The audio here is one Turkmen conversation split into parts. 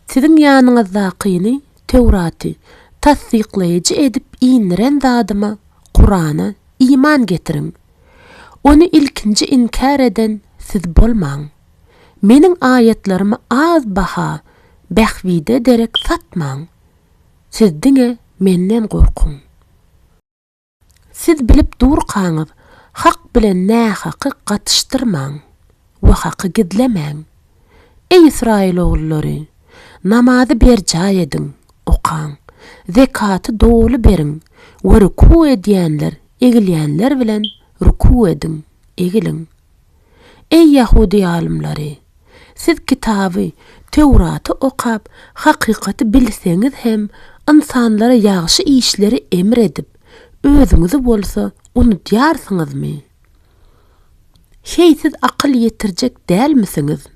Siziň ýanyňyzdakyny, Töwraty, tassyklaýjy edip indiren Zadyma, Kurana, iman getiriň. Ony ilkinji inkär eden siz bolmaň. Meniň aýatlarymy az baha, bähbide derek satmaň. Siz diňe Menden gorkuň. Siz bilip durkaňyz, hak bilen nähaky gatyşdyrmaň we haky gizlemäň. Eý Ysraýyl ogullary, namazy berjaý ediň, okaň, zekaty doly beriň we ruku edýänler egilýänler bilen ruku ediň, egiliň. Eý, ýahudy alymlary! Siz kitaby, Töwraty okap, hakykaty bilseňiz hem, ynsanlara ýagşy işleri emr edip, özüňizi bolsa unudýarsyňyzmy? Heý, siz akyl ýetirjek dälmisiňiz?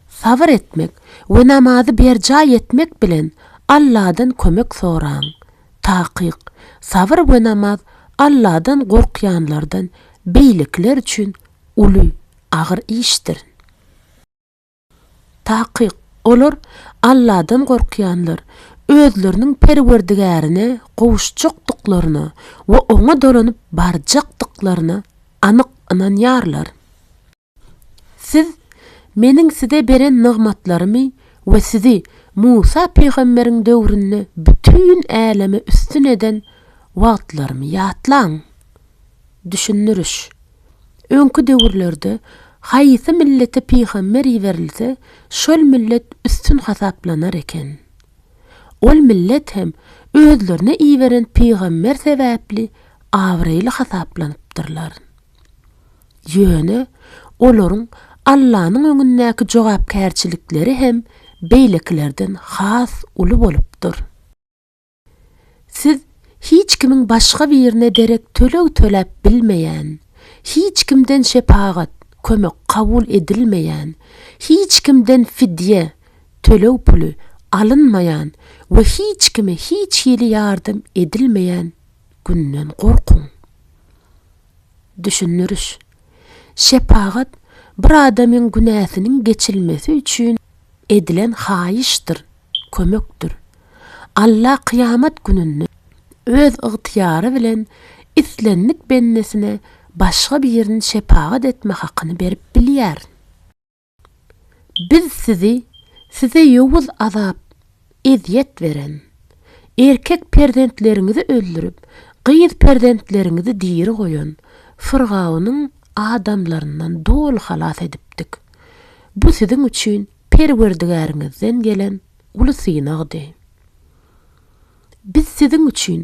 Sabyr etmek we namazy berjaý etmek bilen Alladan kömek soraň. Takyk, sabyr we namaz Alladan gorkýanlardan beýlekiler üçin uly, agyr işdir. Takyk, olar, Alladan gorkýanlar, özleriniň Perwerdigärine gowuşjakdyklaryna we Oňa dolanyp barjakdyklaryna anyk ynanýarlar. Siz Meniň size beren nygmatlarymy we sizi Musa pygamberiň döwründe bütin äleme üstün eden wagtlarymy ýatlaň. Düşündiriş. Öňki döwürlerde haýsy millete pygamber iberilse, şol millet üstün hasaplanar eken. Ol millet hem özlerine iberen pygamber sebäpli abraýly hasaplanypdyrlar. Ýöne olaryň Allanyň öňündäki jogapkärçilikleri hem beýlekilerden has uly bolupdyr. Siz hiç kimiň başga birine derek töleg töläp bilmeýän, hiç kimden şepagat, kömek kabul edilmeýän, hiç kimden fidýe, töleg puly, alynmaýan we hiç kime hiç hili ýardam edilmeýän Günden gorkuň. Düşündiriş. Şepagat bir adamyň günäsiniň geçilmesi üçin edilen haýyşdyr, kömekdir. Alla kyýamat gününde Öz ygtyýary bilen islendik bendesine başga birini şepagat etme hakyny berip bilýär. Biz sizi, size ýowuz azap, ezýet beren, erkek perzentleriňizi öldürip, gyz perzentleriňizi diri goýan Fyrgawnyň adamlaryndan doly halas edipdik. Bu siziň üçin Perwerdigäriňizden gelen uly synagdy. Biz siziň üçin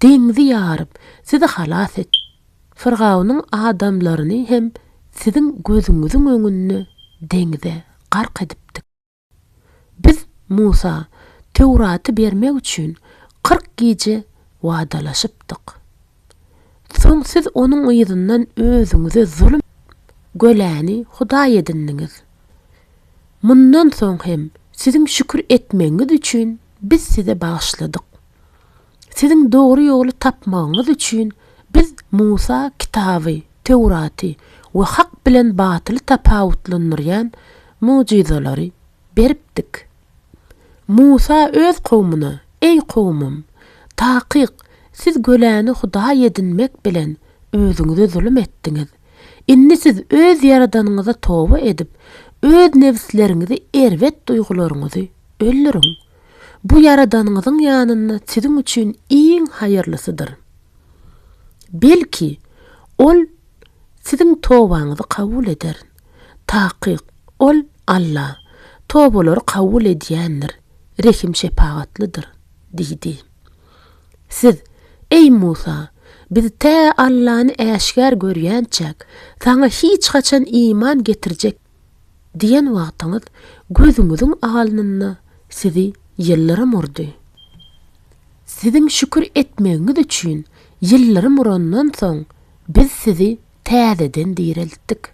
deňzi ýaryp, sizi halas etdik. Firgawnyň adamlaryny hem siziň gözüňiziň öňünde deňze gark edipdik. Biz Musa Töwraty bermek üçin kyrk gije wadalaşypdyk. Soň siz onuň yzyndan özüňize zulum göläni hudaý edindiňiz. Mundan soň hem siziň şükür etmegiňiz üçin biz size bagyşladyk. Siziň dogry ýoly tapmagyňyz üçin biz Musa kitaby, Töwraty, we hak bilen batyly tapawutlandyrýan mugjyzalary beripdik. Musa öz kowmuna, Eý kowmym! Takyk, siz göläni hudaý edinmek bilen özüňize zulum etdiňiz. Indi siz öz Ýaradanyňyza toba edip, öz nebisleriňizi erbet duýgularyňyzy öldüriň. Bu Ýaradanyňyzyň ýanynda siziň üçin iň haýyrlysydyr. Belki, Ol siziň tobaňyzy kabul eder. Takyk, Ol, Alla, tobalary kabul edýändir, rehim-şepagatlydyr diýdi. Siz, Eý Musa! Biz tä Allany äşgär görýänçäk, saňa hiç haçan iman getirjek diýen wagtyňyz gözüňiziň alnynda sizi ýyldyrym urdy. Siziň şükür etmegiňiz üçin ýyldyrym urandan soň biz sizi täzeden direltdik.